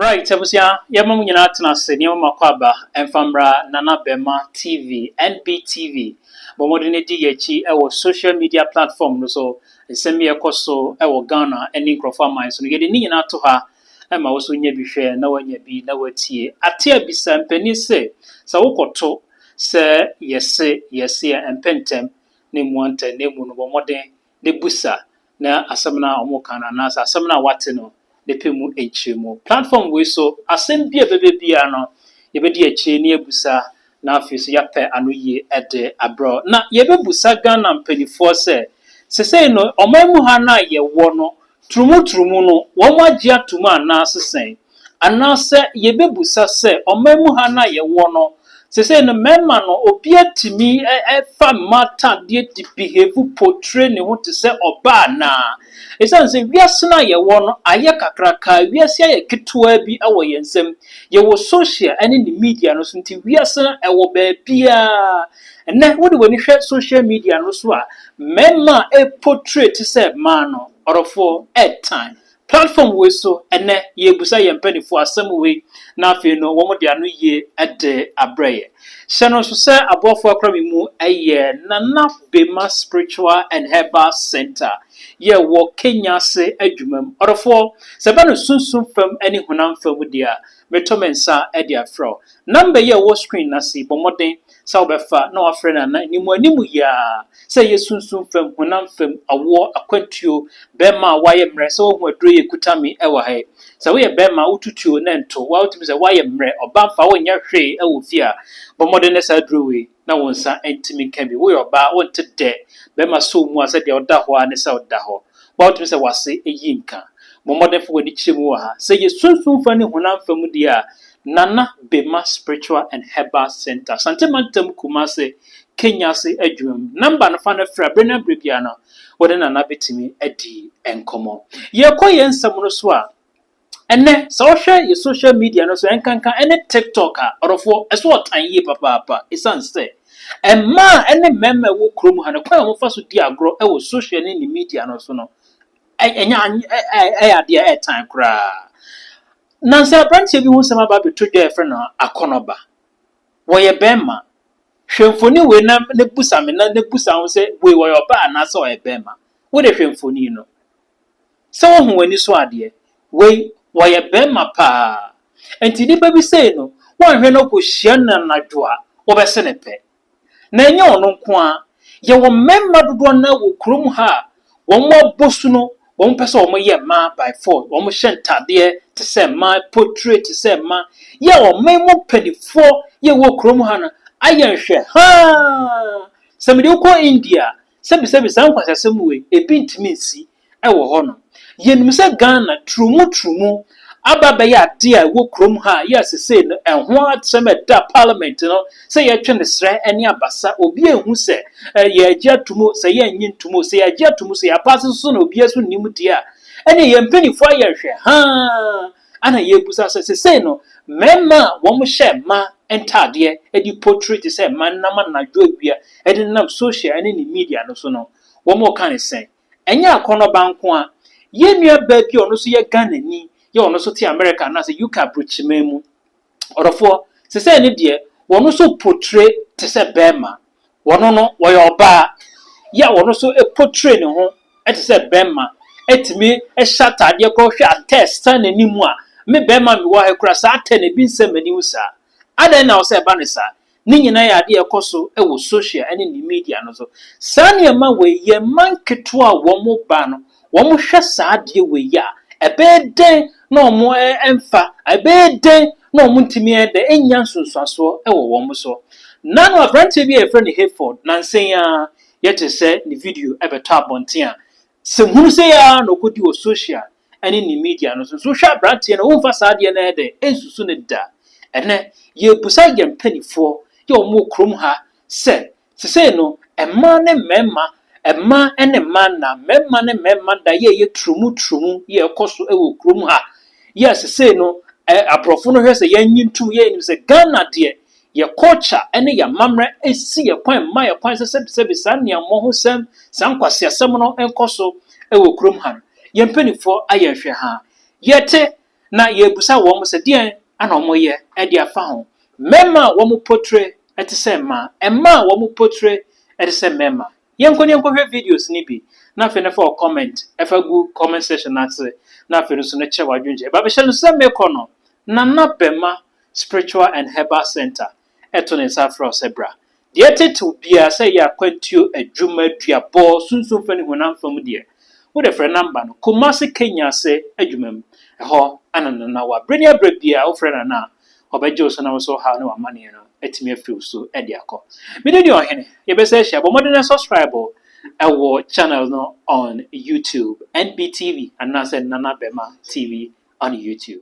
Right abusua, yɛma mo nyinaa tena ase, nneɛma ma kɔ aba, ɛmfa mmra Nana Bɛma TV, NBTV. Bɔ mmɔden di yɛn akyi wɔ social media platform no so, nsɛm bi a ɛkɔ so wɔ Ghana ne nkurɔfoɔ aman so no, yɛde ne nyinaa to ha ma wo nso nya bi hwɛ na woanya bi na woatie. Ate abisa mpanin se, sɛ wokɔto sɛ yɛse, yɛse a, ɛmpɛ ntɛm na ɛmmua ntɛm na mmom no bɔ mmɔden ne bisa na asɛm no a wɔreka no anaasɛ asɛm no a wate no ne pɛ mu nkyerɛmu. Platform wei so, asɛm bi a ɛbɛba biara no, yɛbɛdi akyire na yɛabisa na afei nso yɛapɛ ano yie de abrɛ wo. Na yɛbɛbisa Ghana mpanimfoɔ sɛ, sesei no ɔman mu ha no a yɛwɔ no, Turumuturumu no, wɔagye atom anaa sesɛn? Anaasɛ yɛbɛbusa sɛ ɔman mu ha no a yɛwɔ no, sesei no mmarima no obiara tumi fa mmata deɛ di behave potre ne ho te sɛ ɔbaa anaa? Ɛsiane sɛ wiase no a yɛwɔ no ayɛ kakraka, wiase ayɛ ketewaa bi wɔ yɛn nsam, yɛwɔ social ne ne media no so nti wiase no ɛwɔ baabiara, Ɛnnɛ wode w'ani hwɛ social media no so a, mmarima a ɛreportray te sɛ mmaa no, ɔdɔfoɔ, ɛretan. Platform wei so, ɛnnɛ yɛrebisa yɛn mpanimfoɔ asɛm wei, na afei no wɔde ano yie de abrɛ yɛn. Hyɛ no nso sɛ aboafoɔ akora me mu yɛ Nana Bema Spiritual and Herbal Centre, yɛwɔ Kenya ase adwumam. Ɔdɔfoɔ, sɛ ɛba no sunsum fam ne honam fam deɛ a, Meto me nsa de afrɛ wo. Namba yi a ɛwɔ screen no ase yi, bɔ mmɔden sɛ wobɛfa na wafrɛ no ana anim anim yi ara sɛ ɛyɛ sunsum fam, honam fam, awoɔ, akwantuo, bɛrima a wayɛ mmerɛ sɛ wahu aduro yi a ɛkuta me wɔ ha yi. Sɛ woyɛ bɛrima a wotu tuo na ɛnto wo a, wotumi sɛ woayɛ mmerɛ, ɔbaa mfa wonyɛ hwee wɔ fie a, bɔ mmɔden na saa aduro wei. na wo nsa ntumi nka bi. Woyɛ ɔbaa, wonte dɛ bɛrima sɔw mu a sɛ deɛ ɔda hɔ ara ne sɛ ɔda hɔ. Bɔ a wotumi sɛ w'ase eyi nka. Bɔ mmɔden fa w'ani kyerɛ mu wɔ ha. Sɛ yɛ sunsum fa ne honam fa mu deɛ a, Nana Bema Spiritual and Herbal Centre, Asante Mantam, Kumasi, Kenya ase adwuma mu. Number no, fa no frɛ a, bere no ara bere biara no, wo ne Nana bɛtumi adi nkɔmmɔ. Yɛrekɔ yɛn nsɛm no so a, Ɛnnɛ, sɛ wohwɛ yɛ social media no so, ɛnkanka ɛne TikTok a, ɔdɔfoɔ, ɛso ɔtan yie papaapa ɛsiane sɛ mmaa ne mmarima a ɛwɔ kurom ha no, kwan a wɔfa so di agorɔ wɔ social ne ne media no so no, ɛnyɛ ɛyɛ adeɛ a ɛtan koraa. Nansa aberanteɛ bi ho nsɛm aba abɛto dwa a yɛfrɛ no Akɔnɔba. Wɔyɛ barima. Hwɛ mfoni wei na na busa me na na busa ho sɛ wei ɔyɛ ɔbaa anaasɛ ɔyɛ barima. Wode hwɛ mfoni no. Sɛ wohu w'ani so adeɛ. Wei wɔyɛ bɛɛma paa. Nti nipa bi sei no woanhwɛ na okohyia no anadwo a wobɛse no pɛ. Na ɛnyɛ ɔno nko ara. Yɛwɔ mɛɛma dodoɔ no ara wɔ kurom ha a wɔn abɔ su no wɔn pɛ sɛ wɔn yɛ mmaa by force. Wɔn hyɛ ntadeɛ te sɛ mmaa, potire te sɛ mmaa. Yɛ a ɔman mu mpanifoɔ yɛ wɔ kurom ha no ayɛ nhwɛ haa. Sɛ mede wo kɔ India a Sɛbisɛbi saa nkwaseasɛm wei ebi ntumi nsi wɔ hɔ nom. Yɛnim sɛ Ghana turumu turumu aba abɛyɛ adeɛ a ɛwɔ kurom ha a yɛ sesei no ɛho asɛm a ɛda parliament no sɛ yɛtwe no serɛ ne abasa obiara nhu sɛ yɛagye atom o sɛ yɛnnye ntom o sɛ yɛagye atom o sɛ yɛapaase so na obiara nso nnim deɛ a ɛneɛ yɛn mpaninfoɔ ayɛ nhwɛ haa Ana yɛrebisa sɛ, sesei no, mmarima a wɔhyɛ mmaa ntadeɛ de potire te sɛ mmaa no nam anadwo awia de nenam sohyial ne ne media no so no, wɔreka no sɛn? Ɛnyɛ akɔnnɔba nko ara. Yɛn nuabaa bi a ɔno nso yɛ Ghanani yɛ ɔno nso te Amerika anaasɛ UK aburokyiman mu. Ɔdɔfoɔ, sesei no deɛ, wɔn nso potire te sɛ barima. Wɔn no wɔyɛ ɔbaa yi a wɔn nso potree ne ho te sɛ bɛrima tumi hyɛ ataadeɛ kɔ hwɛ atɛ san n'anim a, me bɛrima a mewɔ ha yi koraa saa atɛ no ebi nsɛ m'anim saa. Adɛn na ɔsɛ ɛba no saa? Ne nyinaa yɛ adeɛ a ɛkɔ so wɔ social ne ne media no so. Saa nneɛma wei yɛn mma nketewa a wɔn ba no wɔhwɛ saa adeɛ wei yi a, ɛbɛyɛ dɛn na wɔmfa, ɛbɛyɛ dɛn na wɔntumi ayɛ dɛn anya nsunsuansoɔ wɔ wɔn so. Na no aberanteɛ bi a yɛfrɛ no Hayford, nansa yi ara yɛte sɛ ne video bɛtɔ abɔnten a, sɛ hunu sɛ yɛ ara na ɔkɔdi wɔ social ne ne media no so. Nso wohwɛ aberanteɛ no a, womfa saa adeɛ no ayɛ dɛn nsusu no da. Ɛnnɛ, yɛrebisa yɛn mpanimfoɔ yɛ wɔn wɔ kurom ha sɛ, Sesei no, mmaa ne mmarima, mmaa ne mmaa nna, mmarima ne mmarima nna yɛ yɛ turumu turumu yɛ ɛkɔ so wɔ kurom ha yɛ sesei no ɛ abrɔfo no hwɛ sɛ yɛn nyi ntum yɛ nim sɛ Ghana deɛ yɛ culture ne yɛ amammerɛ ɛsi yɛ kwan ɛmma yɛ kwan sɛ sɛbi sɛbi saa nea mmɔ ho sɛm saa nkwaseasɛm no nkɔ so wɔ kurom ha no yɛn mpaninfoɔ ayɛ nhwɛ haa yɛte na yebisa wɔn sɛ deɛn na wɔyɛ de afa ho. Mmarima a wɔn potire te sɛ mmaa, mmaa a wɔn potire te sɛ mmarima. Yɛnkɔ na yɛnkɔhwɛ videos no bi, na afei no fa wo comment fa gu comment section no ase, na afei no nso no kyerɛ w'adwenkyerɛ. Baabi hyɛ no sɛ mekɔ no, Nana Bɛma Spiritual and Herbal Centre. ɛto ne nsa afrɛ wo sɛ bra. Deɛ ɛtetew biara, sɛ ɛyɛ akwantuo, adwuma, duabɔ, sunsum fam ne honam fam deɛ, wode frɛ namba no, Kumasi Kenya ase adwuma mu. Ɛhɔ na Nana wɔ. Bere ne abere biara a wofrɛ Nana a, ɔbɛgye wo so na wo nso ɔhaw ne w'amanneɛ no atumi afiri wo so de akɔ. Me din de Ɔhene. Yɛbɛsan ahyia. Bɔ mmɔden na subscribe wɔ channel no on YouTube, NBTV anaasɛ Nana Bɛmah TV on YouTube.